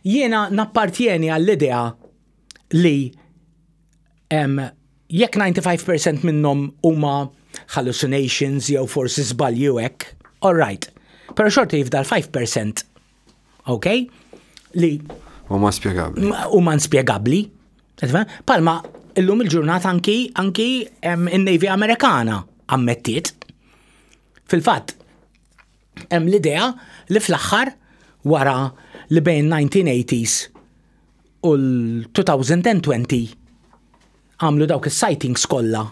Jiena nappartjeni għall-idea li jekk 95% minnhom huma hallucinations jew forsi żbalji u hekk, all right. Però xorta jifdal 5%, ok? Li huma spjegabbli. Huma nspjegabbli. Palma illum il-ġurnata anki anki in-Navy Amerikana ammettiet. Fil-fatt, Hemm l-idea li fl-aħħar wara li bejn 1980s u l-2020 għamlu dawk is-sightings kollha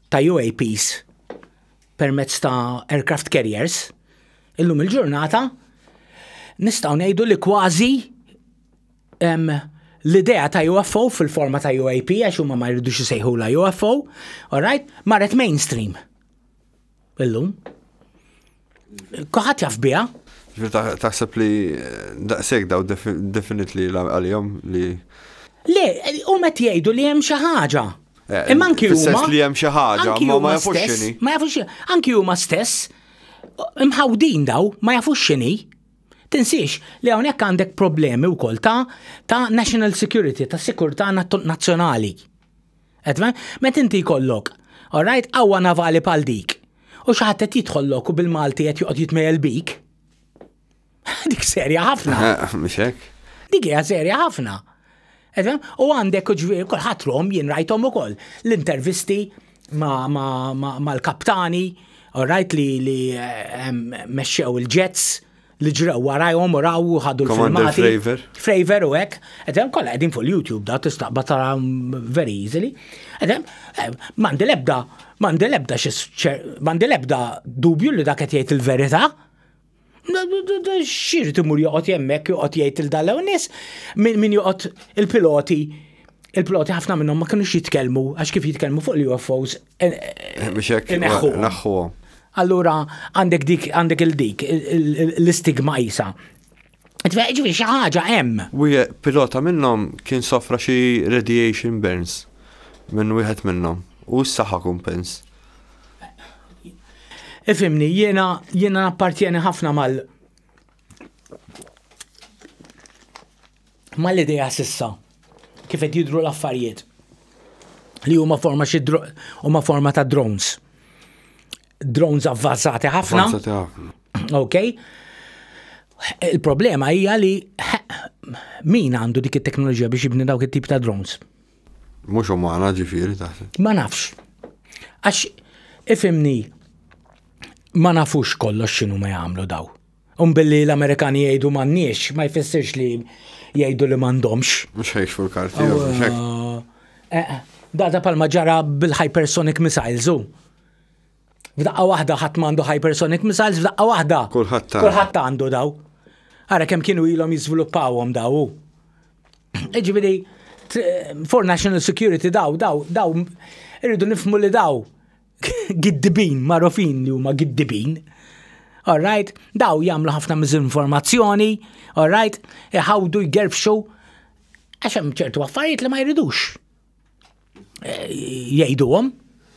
ta' UAPs permezz ta' aircraft carriers, illum il-ġurnata nistgħu ngħidu li kważi l-idea ta' UFO fil-forma ta' UAP għax huma ma jridux isejħula UFO, all right, marret mainstream. Illum. Kuħat jaf biha. Taħseb li eh, daqseg daw definit li għal-jom li. Le, u met jgħidu li hemm xi ħaġa. Eh, Imma anki huma. li hemm xi ħaġa, ma jafux xini. Ma jafux xini. Anki huma stess, mħawdin daw, ma jafux xini. Tinsiex li hawnhekk għandek problemi wkoll ta' ta' national security, ta' sikurtà nazzjonali. Etma, met inti jkollok, alright, qawwa navali bħal dik, u xi ħadd qed jidħollok u bil-Malti qed joqgħod jitmejjel bik. Dik serja ħafna. Mhux hekk? Dik hija serja ħafna. U għandek ġviri, kulħadd rom jien rajthom ukoll l-intervisti mal-kaptani, alright li mexxew il-ġets, li ġraw warajhom u raw u ħadu l-filmati. Fravor. Fravor u hekk. Edem kollha qegħdin fuq YouTube da tistaqba tara very easily. Edem eh, m'għandi lebda m'għandi lebda m'għandi lebda dubju li dak qed jgħid il-verità. Xir timur joqgħod jemmek joqgħod jgħid il-dalew nies min joqgħod il-piloti il-piloti ħafna minnhom ma kinux jitkellmu għax kif jitkellmu fuq l-UFOs Biex hekk naħħuhom. Allura għandek dik għandek il-dik l-istigma isa. Ġifieri xi ħaġa hemm. Wieħed pilota minnhom kien sofra xi radiation burns minn wieħed minnhom u s-saħħa kumpens. Ifimni, jiena jiena appartjeni ħafna mal mal-idea sissa kif qed jidru l-affarijiet li huma forma xi huma forma ta' drones. Drones avvanzati ħafna. Avvanzati ħafna. Ok. Il-problema hija li min għandu dik it-teknoloġija biex jibni dawk it-tip ta' drones? Mhux umana ġifieri taħseb. Ma nafx. Għax ifimni ma nafux kollox x'inhu ma jagħmlu daw. Un billi l-Amerikani jgħidu m'għandniex, ma jfissirx li jgħidu li m'għandhomx. Mhux ħejx fuq karti eh, eh, Da da palma ġara bil-hypersonic missiles u. F'daqqa waħda ħadd m'għandu hypersonic missiles, f'daqqa waħda. Kulħadd Kulħadd għandu daw. Ara kemm kienu ilhom jiżviluppawhom daw. Iġifieri for national security daw, daw, daw, irridu nifmu li daw giddibin marufin li huma giddibin. Alright, daw jagħmlu ħafna miżinformazzjoni, alright, iħawdu jgerbxu għax hemm ċertu affarijiet li ma jridux eh, jgħiduhom.